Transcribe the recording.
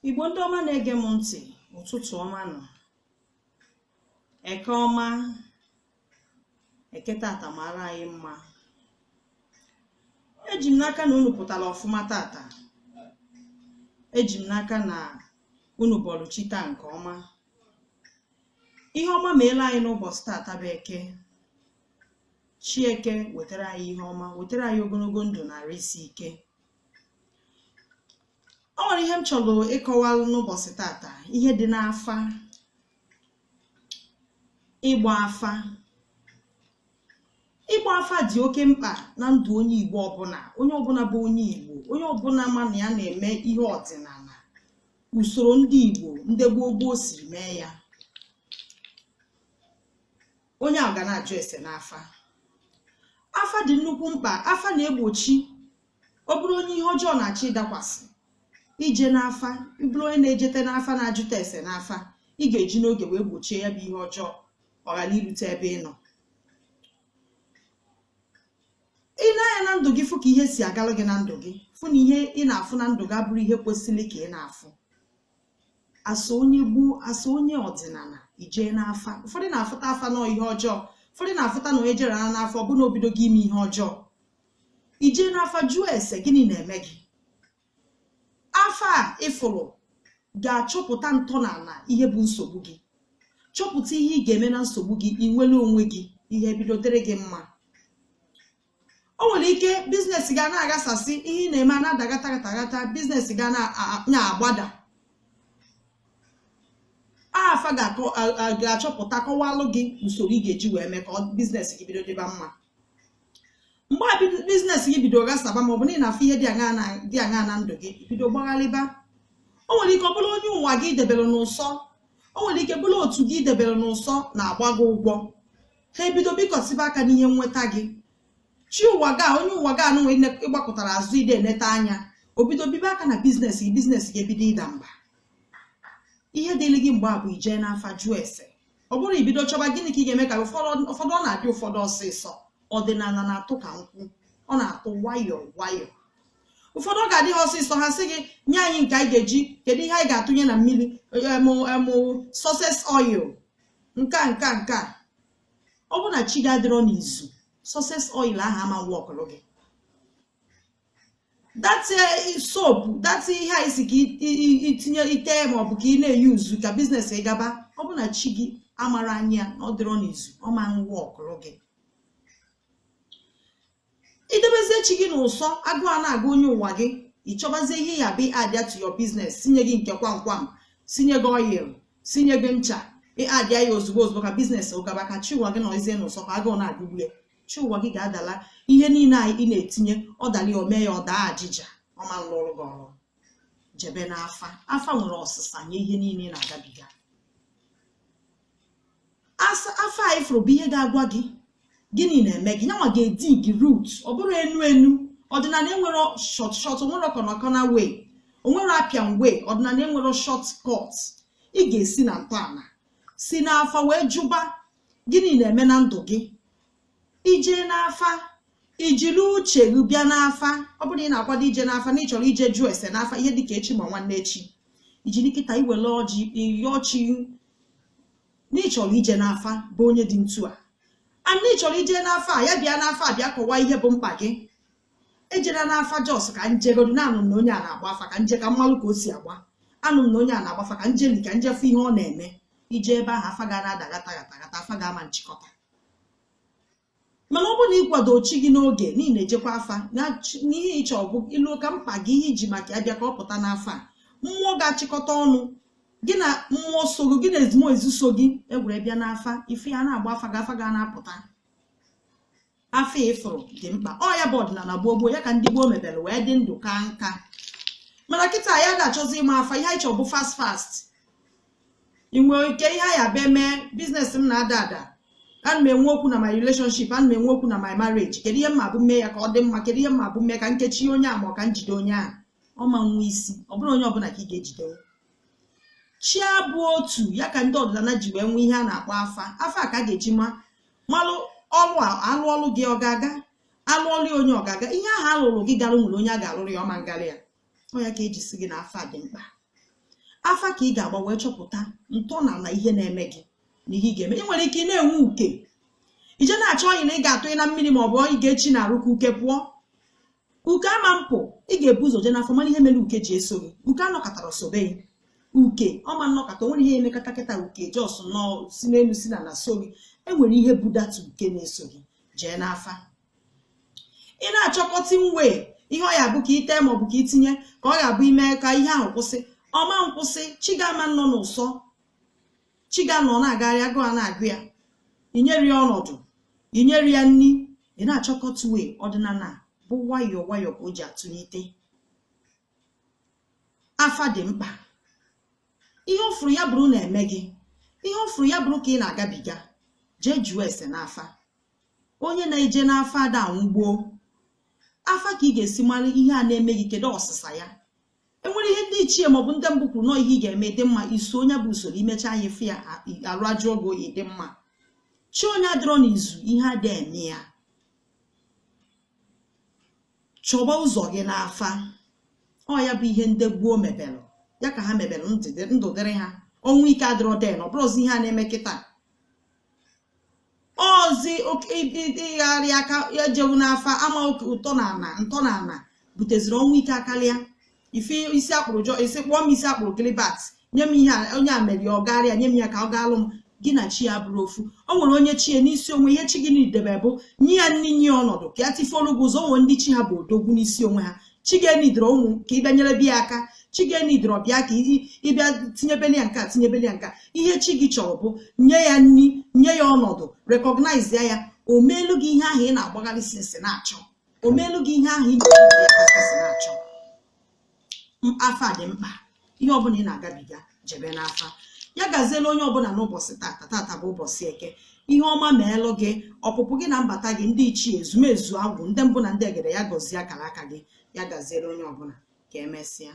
igbo ndị ọma na-ege m ntị ụtụtụ ọma nụ eke ọma eke tata mara anyị mma eji m n'aka na unu pụtara ọfụma tata eji m n'aka na unu bọlụ chi taa nke ọma ihe ọma meela anyị n'ụbọchị tata bụ eke chi eke wetara anyị ihe ọma wetara anyị ogologo ndụ na arụ isi ike o nwere ihe m chọrọ ịkọwalụ n'ụbọchị tata ihe dị n'afa ịgba afa ịgba afa dị oke mkpa na ndụ onye igbo ọbụla onye ọbụla bụ onye igbo onye ọbụla ma na ya na-eme ihe ọdịnala usoro ndị igbo ndị gboo gboo siri mee ya onye a ga na-ajụ ese n'afa afa dị nnukwu mkpa afa na-egbochi ọ bụrụ onye ihe ọjọọ na-achọ ịdakwasị i jee n'afa bụrụ onye na-ejete n'afa na-ajụta ese n'afa ị ga-eji n'oge wee gbochie ya bụ ihe ọjọọ ọ ghara irute ebe ị nọ i nee anya na ndụ gị fụ ka ihe si agalụ gị na ndụ gị fụ na ihe ị na-afụ na ndụ gị abụrọ ihe kwesịrị ka ị na-afụ as onye igbo as onye ọdịnala i jee n'afa ụfọdụ na-afụta afa n'ọ ihe ọjọọ ụfọdụ na-afụta na onye jere n'afa ọ bụ na o bidogo ime ihe ọjọọ i jee n'afa jụọ ese gịnị na-eme gị afa a ị fụrụ ga-achọpụta ntọala ihe bụ nsogbu gị chọpụta ihe ị ga-eme na nsogbu gị i nwere onwe gị ihe bido dịrị gị mma o nwere ike business gị ana-aghasasị ihe ị na-eme na-ada gata gata gata business gị ana-agbada afa ga-achọpụta kọwalụ gị usoro ị ga-eji wee mee ka business gị bido dịba mma mgbe business gị bido ghasaba maọbụ na ị na-afụ ihe dị aṅaa na ndụ gị bido gbagharịba o nwere ike ọ bụrụ onye ụwa gị debere n'ụsọ o nwere ike bụrụ otu gị i debere n'ụsọ na-agba gị ụgwọ ha ebido bikọsiba aka n'ihe nweta gị chi ụwa gị onye ụwa gị anụnwa ị gbakụtara azụ ị dị eneta anya o bido bibe aka na business gị business gị ebido ịda mba ihe dịrị gị mgbe a bụ i jee n'afa jụọ ese ọ bụrọ ibido chọba gịnị ka ị ga-eme ka ụfọdụ ụfọdụ ọ na-adị ụfọdụ ọsịsọ ọdịnala na-atụ ka nkwụ ọ na-atụ nwayọọ nwayọọ ụfọdụ ọ ga-adị ha ọsịsọ ha sị gị nye anyị nke anyị ga-eji kedu ihe anyị ga-atụnye na mmiri em em success oil nke a nke a nke a ọ bụrụ na chi gị adịrọ n'izu success oil ahụ ama workụrụ gị that eh, soap that ihe a isi ka itinye ite maọbụ ka ị na-eyuzu ka biznes ị gaba ọ bụ na chi gị amara anya na ọ dịrọ n'izu ọ ma nwọkụrụ gị idebezie chi gị n'ụsọ agụụ a na-agụ onye ụwa gị ịchọbazie ihe ya-abụ ịadịa to your business sinye gị nke kwamkwam sinye gị oil sinye gị ncha ịadịa ya ozugbo ozugbo ka biznes ị gaba ka chi ụwa gị nọzie n'ụsọ ka agụụ na-agụgbu ya chi ụwa gị ga-adala ihe niile a ị na-etinye ọ dala ya omee ya ọ daa ajịja ọ ma nlụrụ gị ọrụ jebe n'afa afa nwere ọsịsa nye ihe niile ị na-agabiga afa a ị fụrụ bụ ihe ga-agwa gị gịnị na-eme gị nyanwa ga-edigi root ọ bụrọ enu enu ọdịnala enwerọ short short o nwerọ kọnakọna way o nwerọ apịan way ọdịnala enwerọ short cut ị ga-esi na ntọala si n'afa wee jụba gịnị na-eme na ndụ gị ije n'afa ijiri uche gị bịa n'afa ọ bụrụ na ị na-akwado ije n'afa na ị chọrọ ije jụọ ese n'afa ihe dịka echi ma nwanne echi ijiri kịta iwele ọjị ịyọọ chi na ị chọrọ ije n'afa bụ onye dị ntu a and ị chọrọ ije n'afa a ya bịa n'afa a bịa kọwaa ihe bụ mkpa gị ejela n'afa jos ka njegodu na anụ m na onye a na-agba afa ka nje ka mmalụ ka o si agba anụ m na onye a na-agba afa ka njeli ka njefu ihe ọ na-eme ije ebe ahụ afa ga na-ada gata gata gata afa gị ama nchịkọta mana ọ bụrụ na ịkwado chi gị n'oge na ị na-ejekwa afa n'ihe ịchọ bụ ịlụ ka mkpa gị ihe iji maka ya bịa ka ọ pụta n'afa a mmụọ ga-achịkọta ọnụ gị na mmụọ so gị gị na ezumezu so gị egwere bịa n'afa ife ya na-agba afa ga afa ga na-apụta afa ị fụrụ dị mkpa ọ ya bụ ọdịnala gboo gboo ya ka ndị gboo mebere wee dị ndụ ka nka mana kịta anyị ada achọzi ịma afa ihe anyị chọrọ bụ fast fast inwe ike ihe anyị abịa mee biznes m na-ada ada ana m enwe okwu na my relationship ana m enwe okwu na my marriage kedu ihe m ma-abụ mee ya ka ọ dị mma kedu ihe m ma-abụ mee ka nkechi onye a ma ọ ka njide onye a ọ ma nwe isi ọ bụrọ onye ọbụla ka ị ga-ejide chi abụ otu ya ka ndị ọdịnala ji wee nwee ihe a na-akpọ afa afa ka a ga-eji ma malụ ọlụ alụọlụ gị ọ ga-aga alụọlụ onye ọ ga-aga ihe ahụ alụrụ gị gara o nwere onye a ga-alụrụ ya ọ ma ngarị ya ọ ya ka e ji sị gị na afa dị mkpa afa ka ị ga-agba wee chọpụta ntọala ihe na-eme gị na ihe ị ga-eme ị nwere ike ị na-enwe uke ije na-achọ oil na ị ga-atụyi na mmiri ma ọ bụ oil ị ga-echi n'arụ ka uke pụọ uke ama mpụ ị ga-ebu ụzọ jee n'afa mara ihe mere uke ji eso gị uke anọkatarọ sobe gị uke ọ ma nnọkata o nwerọ ihe e mekata kịta uke jos nọ si n'elu sị na na-eso gị e nwere ihe budata uke na-eso gị jee n'afa ị na-achọkọta nwe ihe ọ ya bụ ka ite maọbụ ka itinye ka ọ ga-abụ ime ka ihe ahụ kwụsị ọ ma nkwụsị chi gị ama nnọ n'ụsọ chi gị anọ na-agagharị agụụ ana-agụ ya inyere ya ọnọdụ inyere ya nri ị na-achọkọta uwe ọdịnala bụ nwayọọ nwayọọ ka o ji atụlite afa dị mkpa ihe ọ fụrụ ya bụrụ na-eme gị ihe ọ fụrụ ya bụrụ ka ị na-agabiga jee jụọ ese n'afa onye na-eje n'afa ada anwụ gboo afa ka ị ga-esi mara ihe a na-eme gị kedu ọsịsa ya enwere ihe ndị ichie maọbụ ndị mbụ kwuru na ọ ihe ị ga-eme dị mma iso onye bụ usoro imecha anyị fụ ya arụ ajụ ogo ịdị mma chi onye adịrọ n'izu ihe adị eme ya chọba ụzọ gị n'afa ọ ya bụ ihe ndị gboo mebelụ ya ka ha mebelụ ndụ dịrị ha ọnwụ ike adịrọ then ọ bụrụzi ihe a na-eme kịtaa ọzi ịgharị aka ejewu n'afa ama oke ụtọ na ana ntọ na ana buteziri ọnwụ ike akarịa ife isi a kpụrụ John isi kpụọ m isi a kpụrụ Gilbert nye m ihe onye a mere ọ gaara ya nye m ya ka ọ gaalụ m gị na chi ya abụrọ ofu o nwere onye chi ya n'isi onwe ihe chi gị needi bụ nye ya nri nye ọnọdụ ka ya tifolu gị ụzọ o nwere ndị chi ha bụ odogwu n'isi onwe ha chi gị eneedrọ ụmụ ka ị bịa nyerebe ya aka chi gị eneedrọ bịa ka ị bịa tinyebeli ya nke a tinyebeli ya nke a ihe chi gị chọrọ bụ nye ya nri nye ya ọnọdụ recognize ya ya o meelu gị ihe ahụ ị na-agbagharị since na-achọ o meelu gị ihe ahụ ị na-achọ afa dị mkpa ihe ọbụla ị na-agabiga jebe n'afa ya gaziela onye ọbụla n'ụbọchị tata tata bụ ụbọchị eke ihe ọma meelụ gị ọpụpụ gị na mbata gị ndị ichie ezumezu agwụ ndị mbụ na ndị egede ya gọzie akara aka gị ya gaziere onye ọbụla ka emesịa